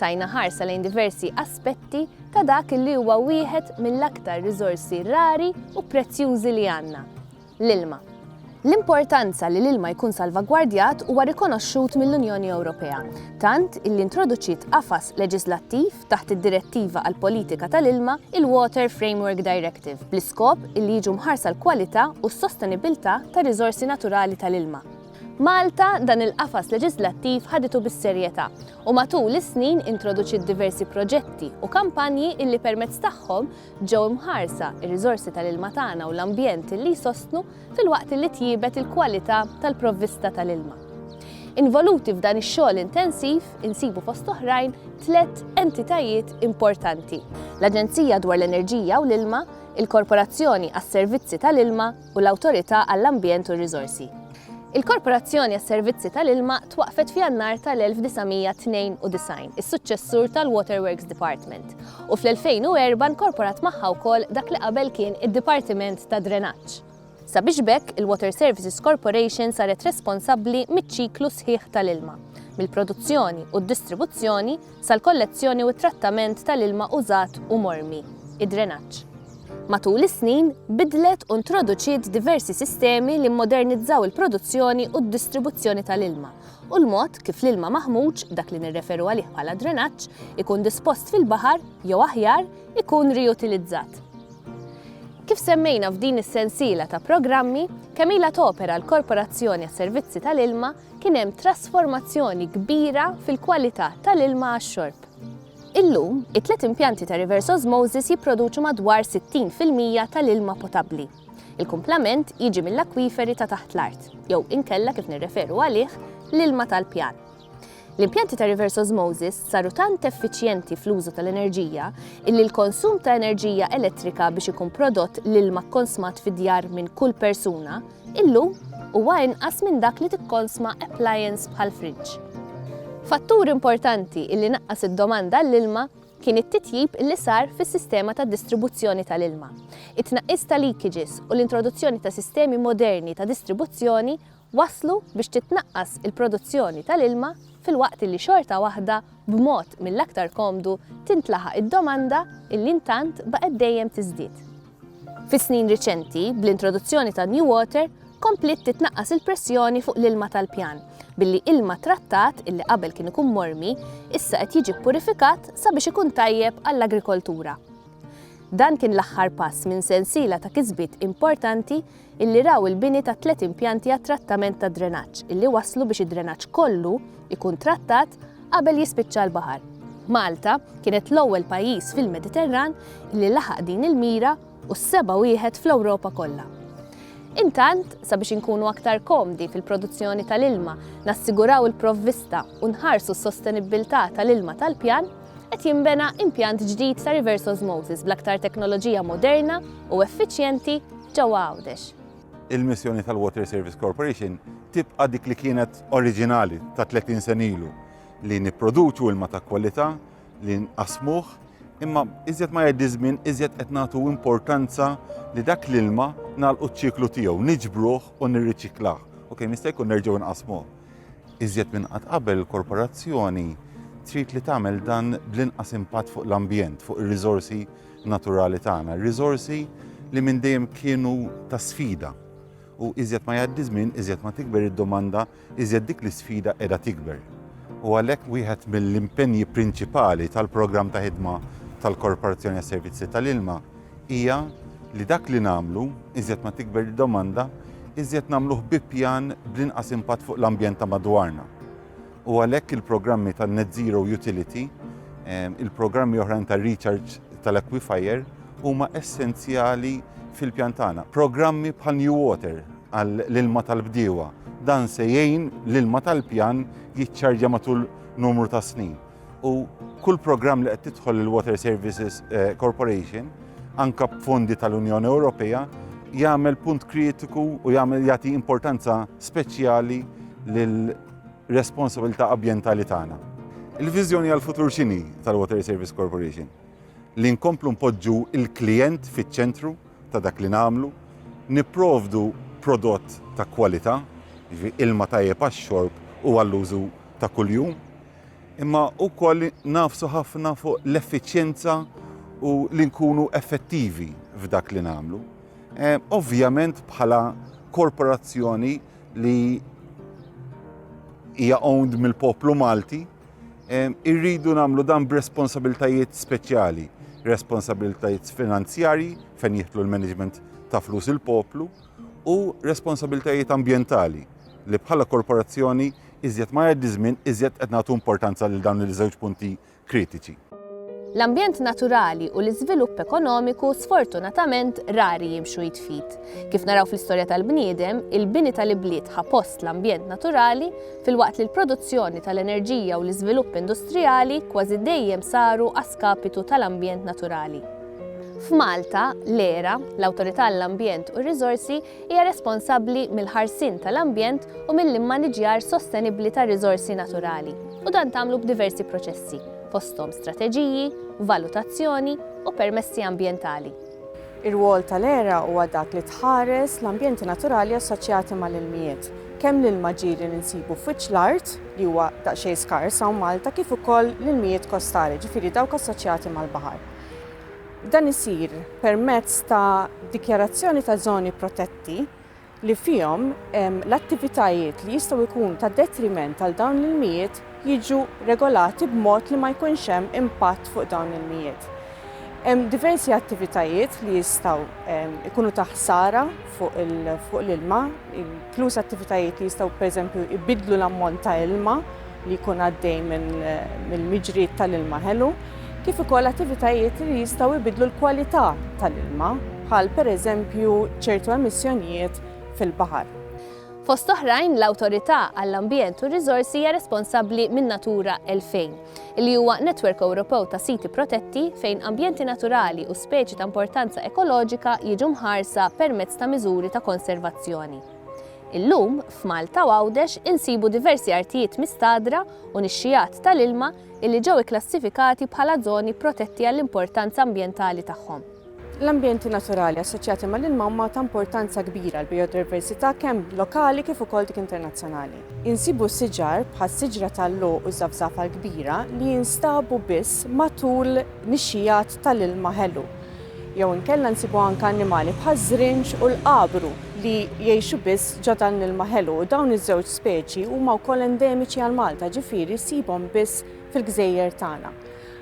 Tajna ħarsa lejn diversi aspetti ta' dak li huwa wieħed mill-aktar riżorsi rari u prezzjużi li għandna, l-ilma. L-importanza li l-ilma jkun salvagwardjat huwa rikonoxxut mill-Unjoni Ewropea, tant illi introduċiet qafas leġiżlattiv taħt id-Direttiva għall-Politika tal-Ilma, il-Water Framework Directive, bl-iskop illi jiġu mħarsa l-kwalità u s-sostenibbiltà tar-riżorsi naturali tal-ilma. Malta dan il-qafas leġiżlattiv ħaditu bis-serjetà u matul is-snin introduċiet diversi proġetti u kampanji illi permezz tagħhom ġew imħarsa r-riżorsi tal-ilma tagħna u l-ambjent illi jsostnu filwaqt illi tjiebet il-kwalità tal-provvista tal-ilma. Involuti f'dan ix-xogħol intensiv insibu fost oħrajn tliet entitajiet importanti, l-Aġenzija dwar l-Enerġija u l-Ilma, il-Korporazzjoni għas-Servizzi tal-Ilma, u l-Awtorità għall-Ambjent u r-Riżorsi. Il-Korporazzjoni għas-Servizzi tal-Ilma twaqqfet f'Jannar tal-1992, is-suċċessur tal-Waterworks Department, u fl-2004 nkorporat magħha wkoll dak li qabel kien id-Dipartiment tad-Drenaġġ. Sabiex b'hekk, il-Water Services Corporation saret responsabbli miċ-ċiklu sħiħ tal-ilma, mill-produzzjoni u d-distribuzzjoni, sal-kollezzjoni u t-trattament tal-ilma użat u mormi, id-drenaġġ. Matul is-snin, bidlet u ntroduċiet diversi sistemi li mmodernizzaw il-produzzjoni u d-distribuzzjoni tal-ilma u l-mod kif l-ilma maħmuġ, dak li nirreferu għalih bħala drenaġġ, ikun dispost fil-baħar, jew aħjar, ikun riutilizzat. Kif semmejna f'din is-sensiela ta' programmi, kemm ilha topera l-Korporazzjoni għas-Servizzi tal-Ilma, kien hemm trasformazzjoni kbira fil-kwalità tal-ilma għax-xorb. Illum, it-tliet impjanti ta' reverse osmosis jipproduċu madwar 60 fil-mija tal-ilma potabbli. Il-kumplament jiġi mill-akwiferi ta' taħt l-art, jew inkella kif nirreferu għalih, l-ilma tal-pjan. L-impjanti ta' reverse osmosis saru tant effiċjenti fl-użu tal-enerġija illi l-konsum ta' enerġija elettrika biex ikun prodott l-ilma kkonsmat fid-djar minn kull persuna Illum, huwa inqas minn dak li tikkonsma appliance bħall-friġġ. Fattur importanti li naqqas id-domanda għall-ilma kien it-titjib li sar fis-sistema ta' distribuzzjoni tal-ilma. It-tnaqqis ta' leakages u l-introduzzjoni ta' sistemi moderni ta' distribuzzjoni wasslu biex titnaqqas il-produzzjoni tal-ilma filwaqt li xorta waħda b'mod mill-aktar komdu tintlaħaq id-domanda li intant baqgħet dejjem tiżdied. Fis-snin riċenti, bl-introduzzjoni ta' New Water, kompliet titnaqqas il-pressjoni fuq l-ilma tal-pjan, billi ilma trattat illi qabel kien ikun mormi, issa qed jiġi ppurifikat sabiex ikun tajjeb għall-agrikoltura. Dan kien l-aħħar pass minn sensiela ta' kisbiet importanti illi raw il-bini ta' tliet impjanti għat-trattament tad-drenaġġ illi wasslu biex id-drenaġġ kollu jkun trattat qabel jispiċċa l-baħar. Malta kienet l-ewwel pajjiż fil-Mediterran illi laħaq din il-mira u s-seba' wieħed fl-Ewropa kollha. Intant, sabiex inkunu aktar komdi fil-produzzjoni tal-ilma, nassiguraw il-provvista u nħarsu s-sostenibbiltà tal-ilma tal-pjan, qed jinbena impjant ġdid ta' reverse osmosis bl-aktar teknoloġija moderna u effiċjenti ġewwa Għawdex. Il-missjoni tal-Water Service Corporation tibqa' dik li kienet oriġinali ta' 30 sena ilu, li nipproduċu ilma ta' kwalità, li nqassmuh, imma iżjed ma jgħaddi żmien iżjed qed nagħtu importanza li dak l-ilma nagħlqu ċ-ċiklu tiegħu, niġbruh u nirriċiklah u kemm jista' jkun nerġgħu nqassmuh. Iżjed minn qatt qabel il-korporazzjoni trid li tagħmel dan bl-inqas impatt fuq l-ambjent, fuq ir-riżorsi naturali tagħna, riżorsi li minn dejjem kienu ta' sfida. U iżjed ma jgħaddi żmien, iżjed ma tikber id-domanda, iżjed dik l-isfida qiegħda tikber. U għalhekk wieħed mill-impenji prinċipali tal-programm ta' ħidma tal-Korporazzjoni għas-Servizzi tal-Ilma hija li dak li nagħmlu, iżjed ma tikber id-domanda, iżjed nagħmluh bi pjan bl-inqas impatt fuq l-ambjent ta' madwarna. U għalhekk il-programmi tan-Net Zero Utility, il-programmi oħrajn ta' recharge tal-aquifier huma essenzjali fil-pjan tagħna. Programmi bħal New Water għall-ilma tal-bdiewa, dan se jgħin l-ilma tal-pjan jiċċarġja matul numru ta' snin. u kull programm li qed tidħol il-Water Services eh, Corporation anka b'fondi tal-Unjoni Ewropea jagħmel punt kritiku u jagħmel jagħti importanza speċjali lil responsabilità ambjentali tagħna. Il-viżjoni għal futur xini tal-Water Service Corporation li nkomplu npoġġu il-klient fiċ-ċentru ta' dak li nagħmlu, nipprovdu prodott ta' kwalità, ilma tajjeb għax-xorb u għall-użu ta' kuljum, imma wkoll nagħfsu ħafna fuq l-effiċjenza u li nkunu effettivi f'dak li nagħmlu. Eh, ovvjament bħala korporazzjoni li hija owned mill-poplu Malti, eh, irridu nagħmlu dan b'responsabiltajiet speċjali, responsabiltajiet finanzjarji fejn jieħdu l-management ta' flus il-poplu, u responsabiltajiet ambjentali, li bħala korporazzjoni, iżjed ma jgħaddi ż-żmien, iżjed qed nagħtu importanza lil dawn iż-żewġ punti kritiċi. L-ambjent naturali u l-iżvilupp ekonomiku sfortunatament rari jimxu id f'id. Kif naraw fl-istorja tal-bniedem, il-bini tal-ibliet ħa post l-ambjent naturali, filwaqt li l-produzzjoni tal-enerġija u l-iżvilupp industrijali kważi dejjem saru a skapitu tal-ambjent naturali. F'Malta, l-ERA, l-Awtorità għall-Ambjent u r-Riżorsi, hija responsabbli mill-ħarsien tal-ambjent u mill-immaniġjar sostenibbli tar-riżorsi naturali, u dan tagħmlu b'diversi proċessi, fosthom strateġiji, valutazzjoni u permessi ambjentali. Ir-rwol tal-ERA huwa dak li tħares l-ambjenti naturali assoċjati mal-ilmijiet, kemm l-ilma ġie li ninsibu f'wiċċ l-art, li huwa daqsxejn skars hawn Malta, kif ukoll l-ilmijiet kostali, ġifieri dawk assoċjati mal-baħar. Dan isir permezz ta' dikjarazzjoni ta' żoni protetti li fihom l-attivitajiet li jistgħu jkunu ta' detriment għal dawn l-ilmijiet jiġu regolati b'mod li ma jkunx hemm impatt fuq dawn l-ilmijiet. Hemm diversi attivitajiet li jistgħu jkunu ta' ħsara fuq l-ilma, inkluż attivitajiet li jistgħu pereżempju jbiddlu l-ammont ta' ilma li jkun għaddej mill-miġrijiet tal-ilma ħelu, kif ukoll attivitajiet li jistgħu jbiddlu l-kwalità tal-ilma, bħal pereżempju ċertu emissjonijiet fil-baħar. Fost oħrajn, l-Awtorità għall-Ambjent u r-Riżorsi hija responsabbli minn Natura 2000, li huwa netwerk Ewropew ta' siti protetti fejn ambjenti naturali u speċi ta' importanza ekoloġika jiġu mħarsa permezz ta' miżuri ta' konservazzjoni. Illum, f'Malta u Għawdex insibu diversi artijiet mistagħdra u nixxigħat tal-ilma illi ġew ikklassifikati bħala żoni protetti għall-importanza ambjentali tagħhom. L-ambjenti naturali assoċjati mal-ilma huma ta' importanza kbira għall-bijodiversità kemm lokali kif ukoll dik internazzjonali. Insibu siġar bħas-siġra tal-logħoq u ż-żafżafa l-kbira li jinstabu biss matul nixxigħat tal-ilma ħelu. jew inkella nsibu anke annimali bħaż-żrinġ u l-qabru li jgħixu biss ġo dan l-ilma ħelu u dawn iż-żewġ speċi huma wkoll endemiċi għal Malta, ġifieri ssibhom biss fil-gżejjer tagħna.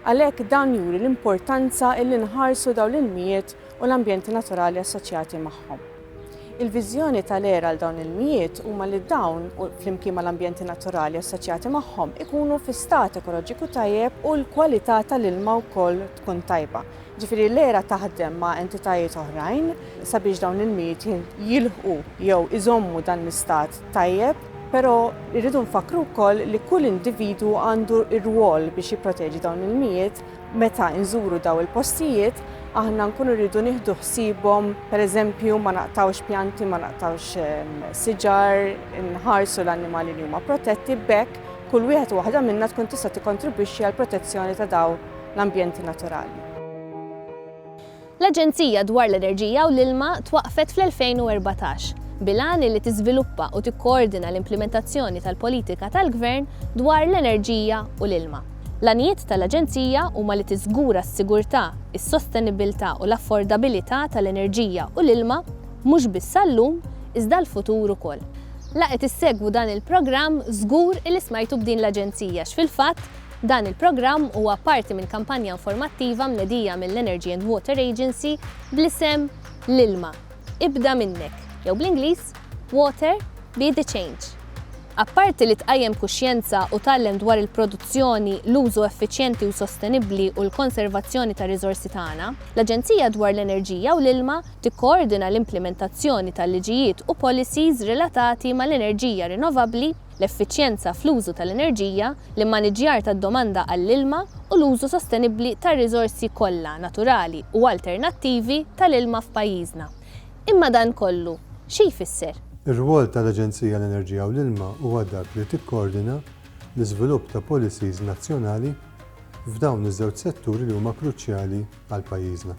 Għalhekk dan juri l-importanza illi nħarsu dawn l-ilmijiet u l-ambjenti naturali assoċjati magħhom. Il-viżjoni tal-ERA għal dawn l-ilmijiet huma li dawn, flimkien mal-ambjenti naturali assoċjati magħhom, ikunu fi stat ekoloġiku tajjeb u l-kwalità tal-ilma wkoll tkun tajba. Jiġifieri l-ERA taħdem ma' entitajiet oħrajn sabiex dawn l-ilmijiet jilħqu jew iżommu dan l-istat tajjeb, però rridu nfakkru wkoll li kull individwu għandu r-rwol biex jipproteġi dawn l-ilmijiet. Meta nżuru dawn il-postijiet aħna nkunu rridu nieħdu ħsiebhom, pereżempju ma naqtgħux pjanti, ma naqtgħux siġar, inħarsu l-annimali li huma protetti, b'hekk kull wieħed u waħda minna tkun tista' tikkontribwixxi għall-protezzjoni ta' dawn l-ambjenti naturali. L-Aġenzija dwar l-Enerġija u l-Ilma twaqqfet fl-2014, bil-għan illi tiżviluppa u tikkoordina l-implimentazzjoni tal-politika tal-Gvern dwar l-enerġija u l-ilma. L-għanijiet tal-Aġenzija huma li tiżgura s-sigurtà, is-sostenibbiltà u l-affordabilità tal-enerġija u l-ilma mhux biss għal-lum iżda għall-futur ukoll. La qed issegwu dan il-programm żgur illi smajtu b'din l-Aġenzija x'fil-fatt, Dan il-programm huwa parti minn kampanja informattiva mnedija mill-Energy and Water Agency bl-isem L-ilma, ibda minnek, jew bl-Ingliż, Water, be the change. Apparti li tqajjem kuxjenza u tgħallem dwar il-produzzjoni, l-użu effiċjenti u sostenibbli u l-konservazzjoni tar-riżorsi tagħna, l-Aġenzija dwar l-Enerġija u l-Ilma tikkoordina l-implimentazzjoni tal-liġijiet u policies relatati mal-enerġija rinnovabbli, l-effiċjenza fl-użu tal-enerġija, l-immaniġġjar tad-domanda għall-ilma u l-użu sostenibbli tar-riżorsi kollha naturali u alternattivi tal-ilma f'pajjiżna. Imma dan kollu xi jfisser? Ir-rwol tal-Aġenzija għall-Enerġija u l-Ilma huwa dak li tikkoordina l-iżvilupp ta' policies nazzjonali f'dawn iż-żewġ setturi li huma kruċjali għal pajjiżna.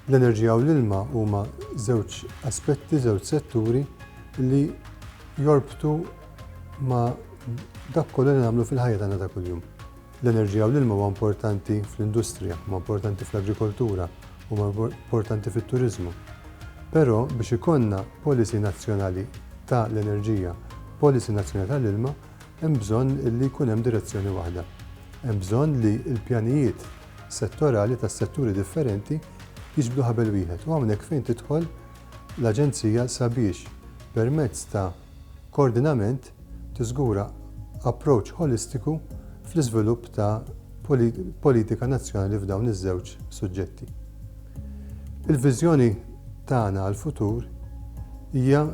L-enerġija u l-ilma huma żewġ aspetti, żewġ setturi li jorbtu ma' dak kollu li nagħmlu fil-ħajja tagħna ta' kuljum. L-enerġija u l-ilma huwa importanti fl-industrija, huwa importanti fl-agrikoltura, huwa importanti fit-turiżmu. Però biex ikollna policy nazzjonali ta' l-enerġija, policy nazzjonali ta' l-ilma, hemm bżonn li jkun hemm direzzjoni waħda. Hemm bżonn li l-pjanijiet settorali tas-setturi differenti jiġbdu ħabel wieħed u hawnhekk fejn tidħol l-Aġenzija sabiex permezz ta' koordinament tiżgura approach ħolistiku fl-iżvilupp ta' politika nazzjonali f'dawn iż-żewġ suġġetti. Il-viżjoni tagħna għall-futur hija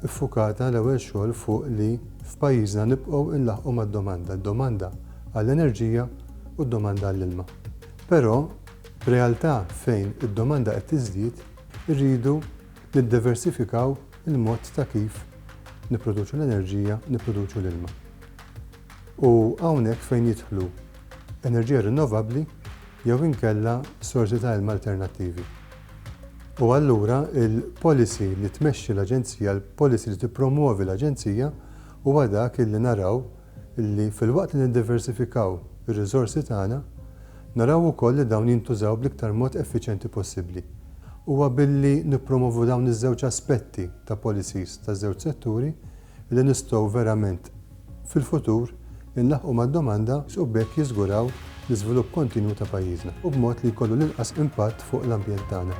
ffukata l-ewwel xogħol fuq li f'pajjiżna nibqgħu nlaħħqu mad-domanda. Id-domanda għall-enerġija u d-domanda għall-ilma. Però, f'realtà fejn id-domanda qed tiżdied, irridu niddiversifikaw il-mod ta' kif nipproduċu l-enerġija u nipproduċu l-ilma. U hawnhekk fejn jidħlu enerġija rinnovabbli jew inkella sorsi ta' ilma alternattivi. U allura il-policy li tmexxi l-Aġenzija, il-policy li tippromwovi l-Aġenzija huwa dak illi naraw li filwaqt li niddiversifikaw ir-riżorsi tagħna, naraw ukoll li dawn jintużaw bl-iktar mod effiċjenti possibbli. Huwa billi nippromovu dawn iż-żewġ aspetti ta' policies taż-żewġ setturi li nistgħu verament fil-futur inlaħħqu mad-domanda, u b'hekk jiżguraw l-iżvilupp kontinwu ta' pajjiżna, u b'mod li jkollu l-inqas impatt fuq l-ambjent tagħna.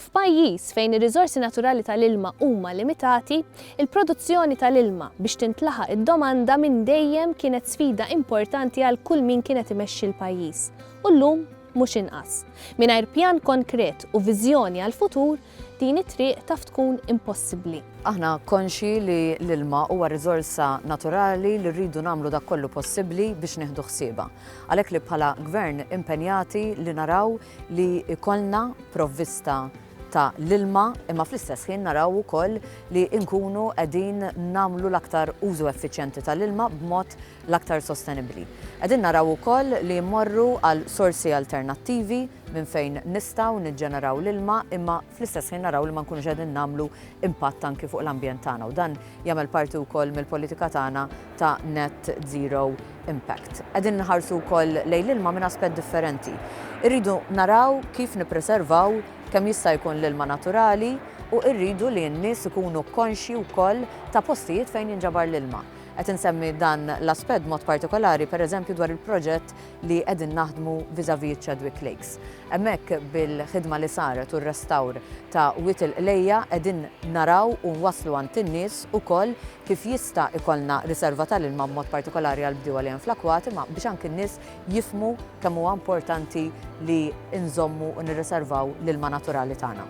F'pajjiż fejn ir-riżorsi naturali tal-ilma huma limitati, il-produzzjoni tal-ilma biex tintlaħaq id-domanda minn dejjem kienet sfida importanti għal kull min kien qed imexxi l-pajjiż, u llum mhux inqas. Mingħajr pjan konkret u viżjoni għall-futur, din it-triq taf tkun impossibbli. Aħna konxji li l-ilma huwa riżorsa naturali li rridu nagħmlu dak kollu possibbli biex nieħdu ħsiebha. Għalhekk li bħala Gvern impenjati li naraw li jkollna provvista ta' l-ilma imma fl-istess ħin naraw ukoll li nkunu qegħdin nagħmlu l-aktar użu effiċjenti ta' l-ilma b'mod l-aktar sostenibbli. Qegħdin naraw ukoll li mmorru għal sorsi alternattivi minn fejn nistgħu niġġeneraw l-ilma imma fl-istess ħin naraw li ma nkunux qegħdin nagħmlu impatt anki fuq l-ambjent tagħna u dan jagħmel parti wkoll mill-politika tagħna ta' net zero impact. Qegħdin nħarsu wkoll lejn l-ilma minn aspett differenti. Irridu naraw kif nippreservaw kemm jista' jkun l-ilma naturali u rridu li n-nies ikunu konxji wkoll ta' postijiet fejn jinġabar l-ilma. Qed insemmi dan l-aspett mod partikolari pereżempju dwar il-proġett li qegħdin naħdmu vis-à-vis iċ-Chadwick Lakes. Hemmhekk bil-ħidma li saret u r-restawr ta' Wied il-Qlejja qegħdin naraw u nwasslu għand in-nies ukoll kif jista' ikollna riserva tal-ilma b'mod partikolari għall-bdiewa li hemm fl-akwati imma biex anki n-nies jifhmu kemm huwa importanti li nżommu u nirriservaw l-ilma naturali tagħna.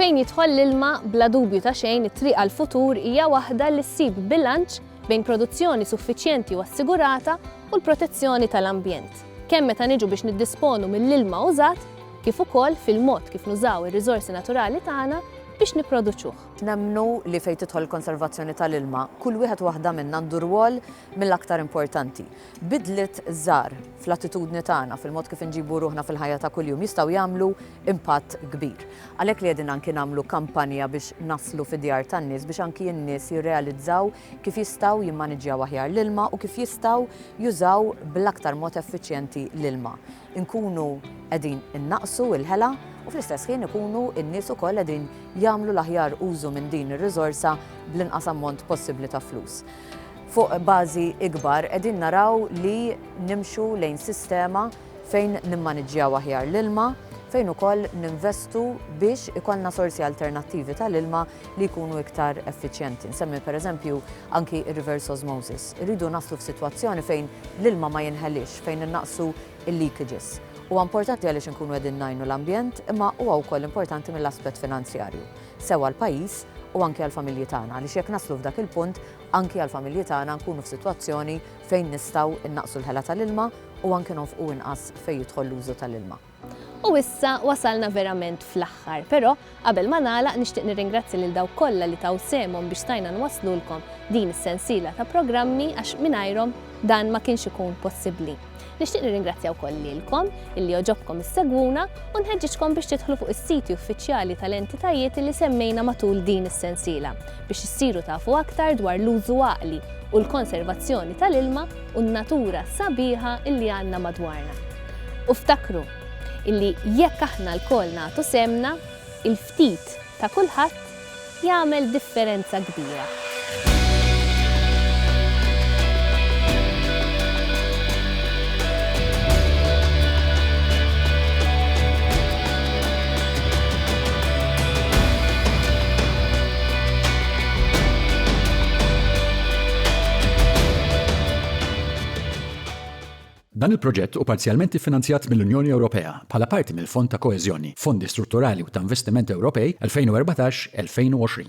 Fejn jidħol l-ilma, bla dubju ta' xejn it-triq għall-futur hija waħda li ssib bilanċ bejn produzzjoni suffiċjenti u assigurata u l-protezzjoni tal-ambjent, kemm meta niġu biex niddisponu mill-ilma użat kif ukoll fil-mod kif nużaw ir-riżorsi naturali tagħna biex nipproduċuh. Nemmnu li fejn tidħol il-konservazzjoni tal-ilma, kull wieħed u waħda minna għandu rwol mill-aktar importanti. Bidliet żgħar fl-attitudni tagħna, fil-mod kif inġibu ruħna fil-ħajja ta' kuljum jistgħu jagħmlu impatt kbir. Għalhekk li qegħdin anki nagħmlu kampanja biex naslu fid-djar tan-nies biex anki n-nies jirrealizzaw kif jistgħu jimmaniġġjaw aħjar l-ilma u kif jistgħu jużaw bl-aktar mod effiċjenti l-ilma. Inkunu qegħdin innaqqsu l-ħela u fl-istess ħin ikunu n-nies ukoll qegħdin jagħmlu l-aħjar użu minn din ir-riżorsa bl-inqas ammont possibbli ta' flus. Fuq bażi ikbar qegħdin naraw li nimxu lejn sistema fejn nimmaniġġjaw aħjar l-ilma, fejn ukoll ninvestu biex ikollna sorsi alternattivi tal-ilma li jkunu iktar effiċjenti. Nsemmi pereżempju anki r-reverse osmosis. Irridu naslu f'sitwazzjoni fejn l-ilma ma jinħeliex, fejn innaqqsu l-leakages. Huwa importanti għaliex inkunu qegħdin ngħinu l-ambjent, imma huwa wkoll importanti mill-aspett finanzjarju, sew għall-pajjiż u anki għall-familji tagħna, għaliex jekk naslu f'dak il-punt, anki għall-familji tagħna nkunu f'sitwazzjoni fejn nistgħu nnaqqsu l-ħela tal-ilma, u anke nonfqu inqas fejn jidħol l-użu tal-ilma. U issa wasalna verament fl-aħħar, però qabel ma nagħlaq nixtieq nirringrazzja lil dawk kollha li taw sehemhom biex stajna nwasslulkom din is-sensiela ta' programmi għax mingħajrhom dan ma kienx ikun possibbli. Nixtieq nirringrazzja wkoll lilkom illi joġobkom issegwuna u nħeġġiġkom biex tidħlu fuq is-siti uffiċjali tal-entitajiet li semmejna matul din is-sensiela biex issiru tafu aktar dwar l-użu għaqli u l-konservazzjoni tal-ilma u n-natura sabiħa illi għandna madwarna. U ftakru illi jekk aħna lkoll nagħtu sehemna, il-ftit ta' kulħadd jagħmel differenza kbira. Dan il-proġett hu parzjalment iffinanzjat mill-Unjoni Ewropea bħala parti mill-Fond ta' Koeżjoni, Fondi Strutturali u ta' Investiment Ewropej 2014-2020.